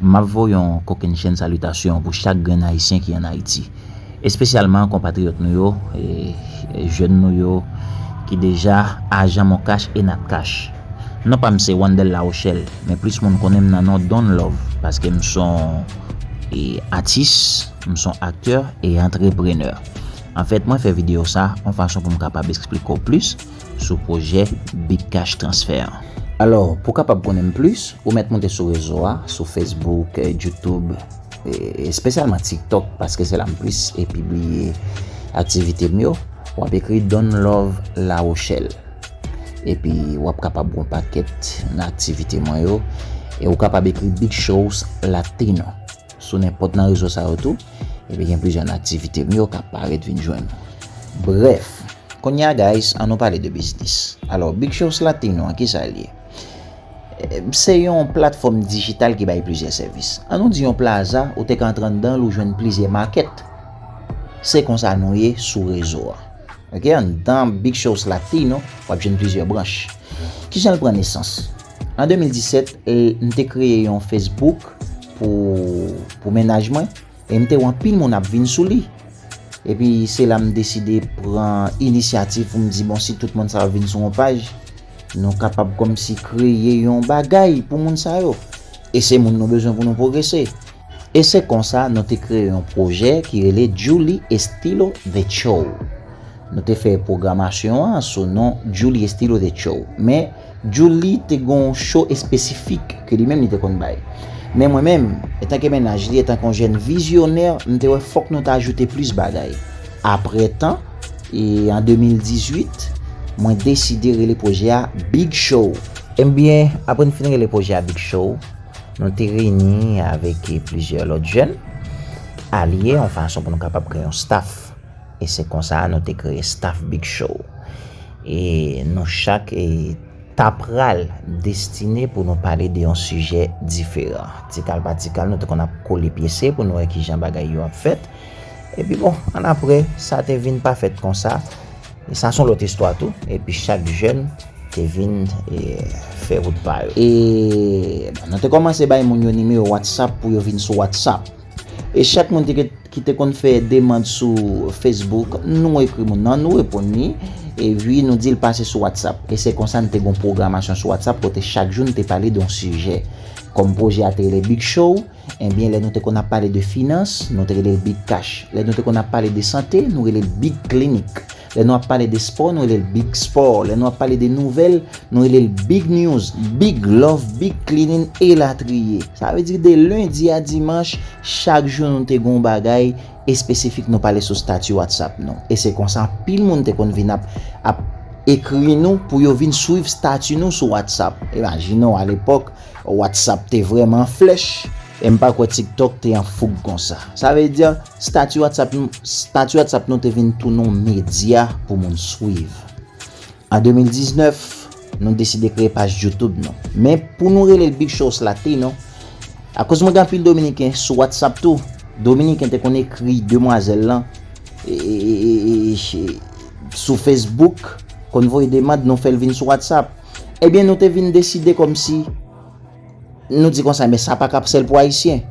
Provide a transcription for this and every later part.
Map voye yon kokennchenn salitasyon pou chak grenn Ayisyen ki an Ayiti, espesyalman konpatriyòt nou yo, jèn nou yo ki deja ajan Moncash e Natcash. Non pa m se Wandel Larochelle, men plis moun konnen m nan non Don Love paske m son atis, m son aktè e antreprenè. Anfèt mwen fè videyo sa an fason pou m kapab esplike w plis. sou pwojè Bitcash Transfer an. Alò, pou w kapab konnen m plis, ou mèt moute sou rezo a, sou Facebook, YouTube, espesyalman TikTok paske se la m plis pibliye aktivite m yo, w ap ekri Donlove La Rochelle. Epi w ap kapab wè yon pakèt nan aktivite mwen yo e ou kapab ekri Big Shows Latino. Sou nenpòt nan rezo sa yo tou, epi gen plizyè nan aktivite m yo k ap parèt vin jwenn ou. Brèf, kounye a guys an nou pale de biznis. Alò Big Shows Latino an kisa l ye? Se yon platfòm dijital ki bay plizyè sèvis. An nou di yon plaza ou te ka antre anndan l ou jwenn plizyè makèt. Se konsa nou ye sou rezo a. Ok anndan Big Shows Latino w ap jwenn plizyè branch. Kijan l pran nesans? An 2017, m te kreye yon Facebook pou mennaj mwen e m te wè anpil moun ap vin sou li. Epi se la m deside pran inisyativ pou m di bon si tout moun sa yo vin sou yon paj, nou kapab kòmsi kreye yon bagay pou moun sa yo. E se moun nou bezwen pou nou pwogrese. E se konsa nou te kreye yon pwojè ki rele Djouly Estilo The Show. Nou te fè pwogramasyon an sou non Djouly Estilo The Show. Men, Djouly te gen yon show espesifik ke li menm li te konn bay. Men mwen menm, etanke mennaj li, etanke yon jèn vizyonè, m te wè fòk nou ta ajoute plis bagay. Apre tan, e an 2018, mwen deside rele pwojè a Big Show. Enbyen, apre n fin rele pwojè a Big Show, Nou te reyini avèk plizyè lòt jèn, alye yon fason pou nou kapab kreye yon staf. E se konsa nou te kreye staf Big Show. E nou chak ta pral destine pou nou pale de yon sijè diferan. Ti kal pa ti kal nou te konn ap kole pyese pou nou wè kijan bagay yo ap fèt. Epi bon, annapre, sa te vin pa fèt konsa. Sa son lòt istwa tou, epi chak jèn te vin fè wout pa yo. E nou te kòmanse bay moun yo nimewo Whatsapp pou yo vin sou Whatsapp. E chak moun ki te konn fè demand sou Facebook, nou ekri moun nan, nou reponn li, epi nou di l pase sou Whatsapp. E se konsa n te gen yon pwogramasyon sou Whatsapp kote chak jou n te pale de yon sijè. Kòm pwojè a te rele Big Show. Ebyen lè nou te konn ap pale de finans, nou te rele l big cash. Lè nou te konn ap pale de sante, nou rele l big clinic. Lè nou ap pale de spò, nou rele l big sport. Lè nou ap pale de nouvèl, nou rele l big news, big love, big cleaning elatriye. Sa vle di de lendi a dimanch, chak jou nou te gen yon bagay espesifik nou pale sou stati whatsapp nou. E se konsa anpil moun te konn vin ap ap ekri nou pou yo vin swiv stati nou sou whatsapp. Imajine w alepòk, Whatsapp te vreman flèch. E m pa kwè TikTok te an foug konsa. Sa vle di, stati Whatsapp nou te vin tounen yon medya pou moun swiv. An 2019, nou deside kreye paj YouTube nou. Men, pou nou rele l Big Shows Latino, akoz mwen gen anpil Dominiken sou Whatsapp tou, Dominiken te konn ekri demwazèl lan sou Facebook, konn voye demand nou fè l vin sou Whatsapp. Ebyen nou te vin deside kòmsi nou di konsa men sa pa kap sèl pou ayisyen.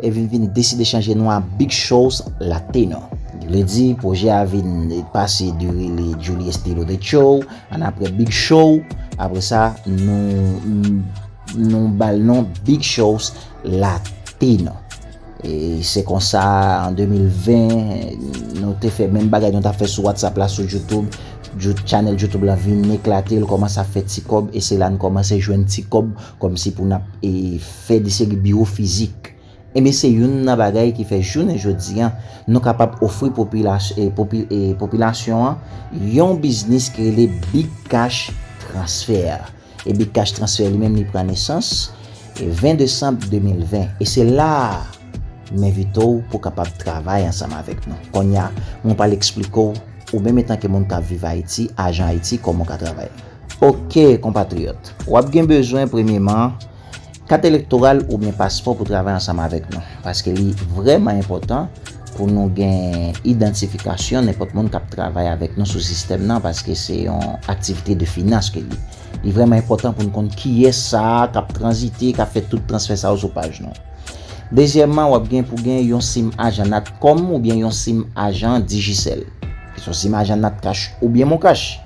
E vin vin deside chanje nou a Big Shows Latino. Vle di pwojè a vin pase de rele Juli Estilo The Show an apre Big Show, apre sa nou nou bal non Big Shows Latino. E se konsa an 2020 nou te fè menm bagay nou ta fè sou WhatsApp la sou Youtube. Chanèl Youtube la vin eklate, l kòmanse ap fè ti kòb e se la n kòmanse jwenn ti kòb kòm si pou n ap fè de seri biwo fizik. Enben se youn nan bagay ki fè jounen jodi an nou kapab ofri popilasyon an yon biznis ki rele Big Cash Transfer. Ebitcash Transfert li menm li pran nesans 20 desanm 2020 e se la a m envite w pou w kapab travay ansanm avèk nou. Kounye a, mwen pral eksplike w, ou menm etanke moun k ap viv Ayiti, ajan Ayiti, kòman w ka travay. Oke, konpatriyòt, w ap gen bezwen premyeman. Kat elektoral oubyen paspò pou travay ansanm avèk nou. Paske li vrèman enpòtan pou nou gen idantifikasyon nenpòt moun kap travay avèk nou sou sistèm nan paske se yon aktivite de finans ke li. Li vrèman enpòtan pou nou konn kiyès sa a kap tranzite, kap fè tout transfè sa yo sou paj nou. Dezyèman, wap gen pou gen yon sim ajan Natcom oubyen yon sim ajan Digicel. Ki son sim ajan Natcash oubyen Moncash.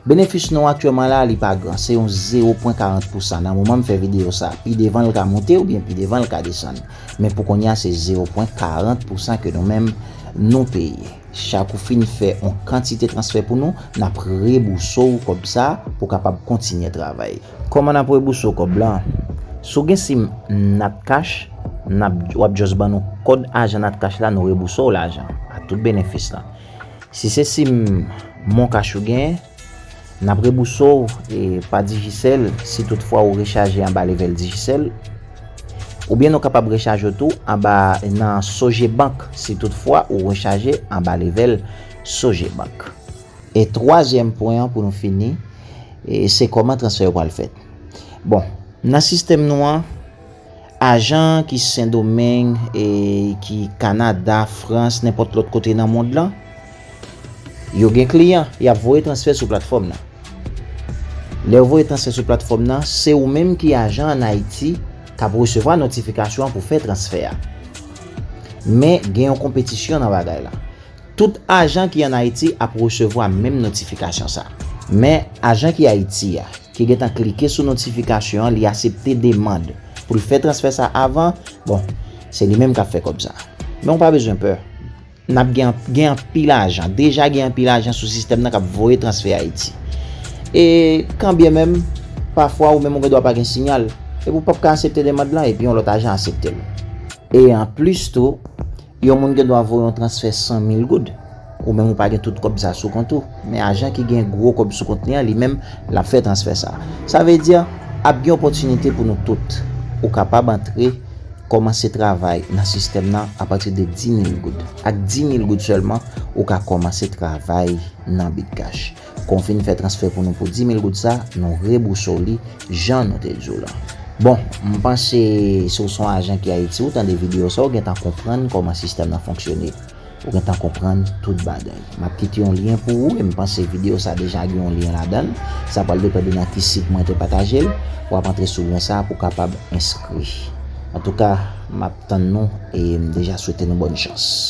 Benefis nou aktyèman la li pa gran, se yon zewo pwen karant pousan nan moman m fè videyo sa, pi devan l ka moute oubyen pi devan l ka desann, men pou konnya se zewo pwen karant pousan ke nou menm nou peye. Chak ou fin fè on kantite transfè pou nou, n ap rebouse w kòb sa pou w kapab kontinye travay. Kòman n ap rebouse w kòb lan? Si w gen sim natcash, n ap, w ap just ban nou kòd ajan natcash la nou rebouse w lajan, ak tout benefis lan. Si se sim moncash ou gen, n ap rebouse w pa Digicel si tout fwa ou rechaje anba level Digicel. Oubyen nou kapab rechaje w tou anba nan Sogebank si tout fwa ou rechaje anba level Sogebank. E twazyèm pwen an pou nou fini, se kòman transfè yo pral fèt. Bon, nan sistèm nou an. Ajan ki Sendomeng, ki Kanada, Frans, nenpòt lòt kote nan mond lan, yo gen kliyan, y ap voye transfè sou platfòm nan. Lè yo voye transfè sou platfòm nan, se ou menm ki ajan an Ayiti k ap resevwa notifikasyon an pou fè transfè a. Men, gen yon konpetisyon nan bagay la. Tout ajan ki an Ayiti ap resevwa menm notifikasyon sa. Men, ajan ki Ayiti a, ki gentan klike sou notifikasyon an li asepte demand pou l fè transfè sa avan, bon, se li menm k ap fè kòb sa. Men ou pa bezwen pè. N ap gen, gen anpil ajan, deja gen anpil ajan sou sistèm nan k ap voye transfè Ayiti. E kan byen menm, pafwa ou menm ou gen dwa pa gen siyal, epi ou p ap ka asepte demand lan epi yon lòt ajan asepte l. E anplis tou, Yon moun gen dwa voye yon transfè 100 mil goud, ou menm ou pa gen tout kòb sa sou kont ou, men ajan ki gen gwo kòb sou kont li an, li menm, l ap fè transfè sa. Sa vle di, ap gen opòtinite pou nou tout. Ou kapab antre, kòmanse travay nan sistèm nan apati de 10 mil goud. Ak 10 mil goud sèlman, ou ka kòmanse travay nan Bitcash. Kon fin fè transfè pou nou pou 10000 goud sa nou rebousa w li jan nou te di w lan. Bon, m panse si w son ajan ki Ayiti ou tande video sa ou gentan konprann kòman sistèm lan fonksyone. Ou gentan konprann tout bagay. M ap kite yon lyen pou ou e m panse video sa deja gen yon lyen ladan. Sa pral depann de nan ki sit mwen te pataje l. W ap antre sou lyen sa pou w kapab enskri. Antouka, m ap tann nou e m deja swete nou bòn chans.